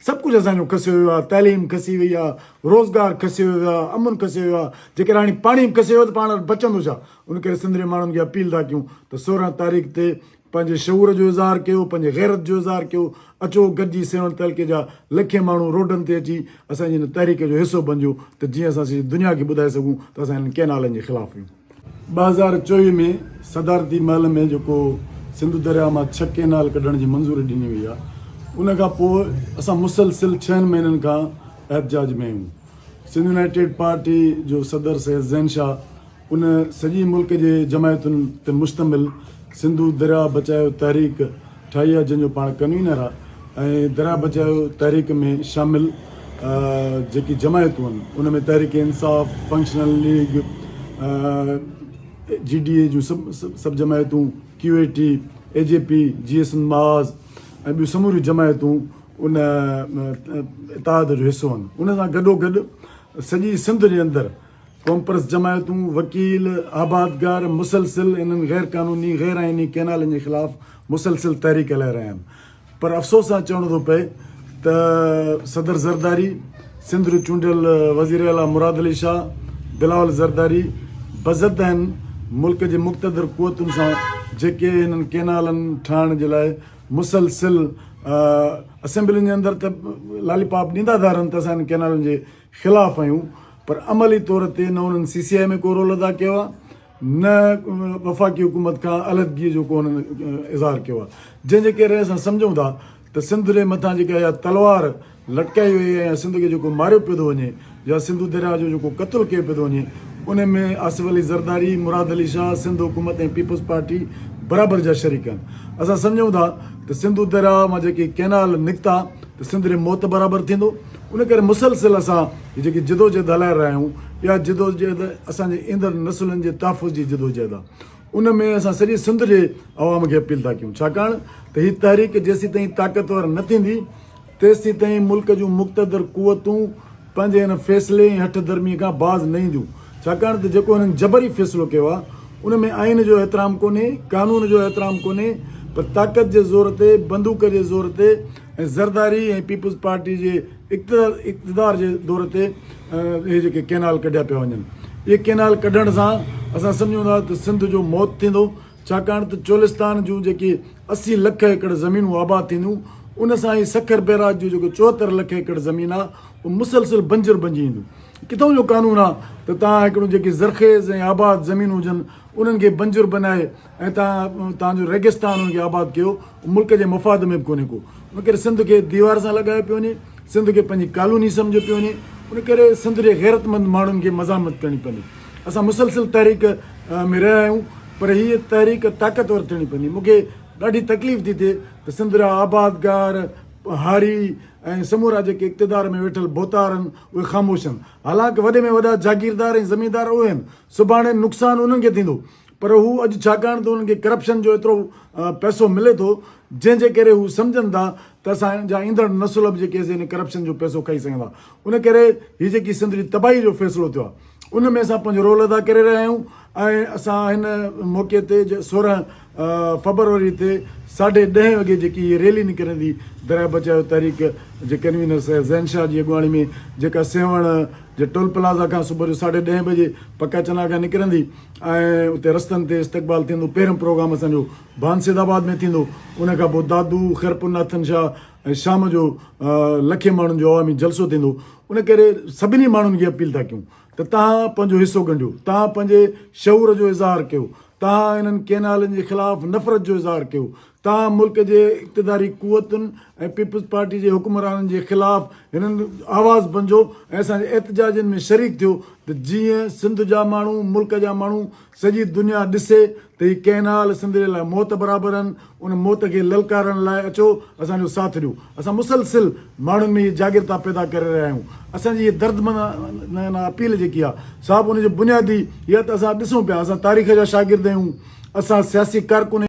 سڀ ڪجهه اسان جو کسيو ويو آهي، تعليم کسي وئي آهي، روزگار کسيو ويو آهي، امن کسيو ويو آهي، جيڪڏهن هاڻي پاڻي به کسي ويو ته پاڻ وٽ بچندو ڇا؟ ان ڪري سنڌ جي ماڻهن کي اپيل ٿا ڪيون ته سورهن تاريخ تي پنهنجي شعور جو اظهار ڪيو، پنهنجي غيرت جو اظهار ڪيو، اچو گڏجي سيوهڻ تعلقي جا لکين ماڻهو روڊن تي اچي اسان جي ان تحريڪ جو حصو بنجو ته جيئن اسان سڄي دنيا کي ٻڌائي سگهون ته اسان هنن ڪئنالن جي خلاف آهيون. ٻه هزار چوويهه ۾ صدارتي محل ۾ جيڪو سنڌو درياهه مان ڇهه ڪئنال ڪڍڻ جي منظوري ڏني وئي آهي ان کان پوء اسان مسلسل ڇهن مهينن کان احتجاج ۾ آهيون سنڌ يونائيٽيڊ پارٽي جو صدر سيد زين شاهه ان سڄي ملڪ جي جماعتن تي مشتمل سنڌو درياهه بچايو تحريڪ ٺاهي آهي جنهن جو پاڻ ڪنوينر آهي ۽ درياهه بچايو تحريڪ ۾ شامل جيڪي جماعتون آهن ان ۾ Tehreek Insaf, functional league, G D A جون سڀ جماعتون، Q A T, A G P, J S M ماز ۽ ٻيون سموريون جماعتون ان اتحاد جو حصو آهن ان سان گڏوگڏ سڄي سنڌ جي اندر قومپرست جماعتون، وڪيل، آبادگار مسلسل انهن غير قانوني، غير آئيني ڪئنالن جي خلاف مسلسل تحريڪ هلائي رهيا آهن پر افسوس سان چوڻو ٿو پئي ته صدر زرداري، سنڌ جو چونڊيل وزير اعليٰ مراد علي شاهه، بلاول زرداري بضد آهن، ملڪ جي مقتدر قوتن سان جيڪي انهن ڪئنالن ٺاهڻ جي لاء مسلسل اسيمبلين جي اندر ته لالي پاپ ڏيندا ٿا رهن ته اسان انهن ڪئنالن جي خلاف آهيون پر عملي طور تي نه انهن سي سي آء ۾ ڪو رول ادا ڪيو آهي نه وفاقي حڪومت کان علحدگي جو ڪو انهن اظهار ڪيو آهي جنهن جي ڪري اسان سمجهون ٿا ته سنڌ جي مٿان جيڪا اها تلوار لٽڪائي وئي آهي يا سنڌ کي جيڪو ماريو پيو ٿو وڃي يا سنڌو درياهه جو جيڪو قتل ڪيو پيو ٿو وڃي ان ۾ آصف علي زرداري مراد علي شاهه سنڌ حڪومت ۽ پيپلز پارٽي برابر جا شريڪ آهن اسان سمجهون ٿا ته سنڌو درياهه مان جيڪي ڪينال نڪتا ته سنڌ جي موت برابر ٿيندو ان ڪري مسلسل اسان هي جيڪي جدوجهد هلائي رهيا آهيون، اها جدوجهد اسان جي ايندڙ نسلن جي تحفظ جي جدوجهد آهي. ان ۾ اسان سڄي سنڌ جي عوام کي اپيل ٿا ڪيون، ڇاڪاڻ ته هي تحريڪ جيسيتائين طاقتور نه ٿيندي، تيسيتائين ملڪ جون مقتدر قوتون پنهنجي ان فيصلي ۽ هٺ ڌرمي کان باز نه اينديون، ڇاڪاڻ ته جيڪو هنن جبري فيصلو ڪيو آهي، ان ۾ آئين جو احترام ڪونهي، قانون جو احترام ڪونهي، پر طاقت جي زور تي، بندوق جي زور تي، ۽ زرداري ۽ پيپلز پارٽي جي اقتدار جي دور تي اهي جيڪي ڪينال ڪڍيا پيا وڃن اهي ڪينال ڪڍڻ سان اسان سمجهون ٿا ته سنڌ جو موت ٿيندو ڇاڪاڻ ته چولستان جون جيڪي اسي لک ايڪڙ زمينون آباد ٿينديون ان سان هي سکر بيراج جو جيڪو چوهتر لک ايڪڙ زمين آهي اهو مسلسل بنجر بنجي ايندو ڪٿون جو قانون آهي ته تان هڪڙو جيڪي زرخيز ۽ آباد زمينون هجن انهن کي بنجر بنائي ۽ تان تان جو ريگستان ان کي آباد ڪيو اهو ملڪ جي مفاد ۾ به ڪونهي ڪو ان ڪري سنڌ کي ديوار سان لڳايو پيو وڃي سنڌ کي پنهنجي ڪالوني سمجهيو پيو وڃي ان ڪري سنڌ جي غيرتمند ماڻهن کي مزاحمت ڪرڻي پوندي اسان مسلسل تحريڪ ۾ رهيا آهيون پر هيء تحريڪ طاقتور ٿيڻي پوندي مون کي ڏاڍي تڪليف ٿي ٿئي ته سنڌ جا آبادگار هاري ۽ سمورا جيڪي اقتدار ۾ ويٺل ڀوتار آهن اهي خاموش آهن حالانڪ وڏي ۾ وڏا جاگيردار ۽ زميندار اهي آهن سڀاڻي نقصان انهن کي ٿيندو پر هو اڄ ڇاڪاڻ ته انهن کي ڪرپشن جو ايترو پئسو ملي ٿو جنهن جي ڪري هو سمجهن ٿا ته اسان جا ايندڙ نسل به جيڪي سي ان ڪرپشن جو پئسو کائي سگهندا ان ڪري هي جيڪي سنڌ جي تباهي جو فيصلو ٿيو آهي ان ۾ اسان پنهنجو رول ادا ڪري رهيا آهيون ۽ اسان هن موقعي تي سورهن فبروري تي ساڍي ڏهين وڳي جيڪي هي ريلي نڪرندي دريا بچايو تحريڪ جي ڪنوينر سيد زين شاهه جي اڳواڻي ۾ جيڪا سيوهڻ جي ٽول پلازا کان صبح جو ساڍي ڏهين بجي پڪا چنا کان نڪرندي ۽ اتي رستن تي استقبال ٿيندو پهريون پروگرام اسان جو ڀان سيد آباد ۾ ٿيندو ان کان پوء دادو خيرپور ناٿن شاهه ۽ شام جو لکين ماڻهن جو عوامي جلسو ٿيندو ان ڪري سڀني ماڻهن کي اپيل ٿا ڪيون ته تهان پنهنجو حصو ڳنڍيو تهان پنهنجي شعور جو اظهار ڪيو تهان انهن ڪينالن جي خلاف نفرت جو اظهار ڪيو تاهم ملڪ جي اقتداري قوتن ۽ پيپلز پارٽي جي حڪمرانن جي خلاف هنن آواز بنجو ۽ اسان جي احتجاجن ۾ شريڪ ٿيو ته جيئن سنڌ جا ماڻهو ملڪ جا ماڻهو سڄي دنيا ڏسي ته هي ڪئنال سنڌ جي لاء موت برابر آهن ان موت کي للڪارڻ لاء اچو اسان جو ساٿ ڏيو اسان مسلسل ماڻهن ۾ هي جاڳرتا پيدا ڪري رهيا آهيون اسان جي هي دردمند اپيل جيڪي آهي سا به ان جو بنيادي هي آهي ته اسان ڏسون پيا اسان تاريخ جا شاگرد آهيون اسان سياسي ڪارڪن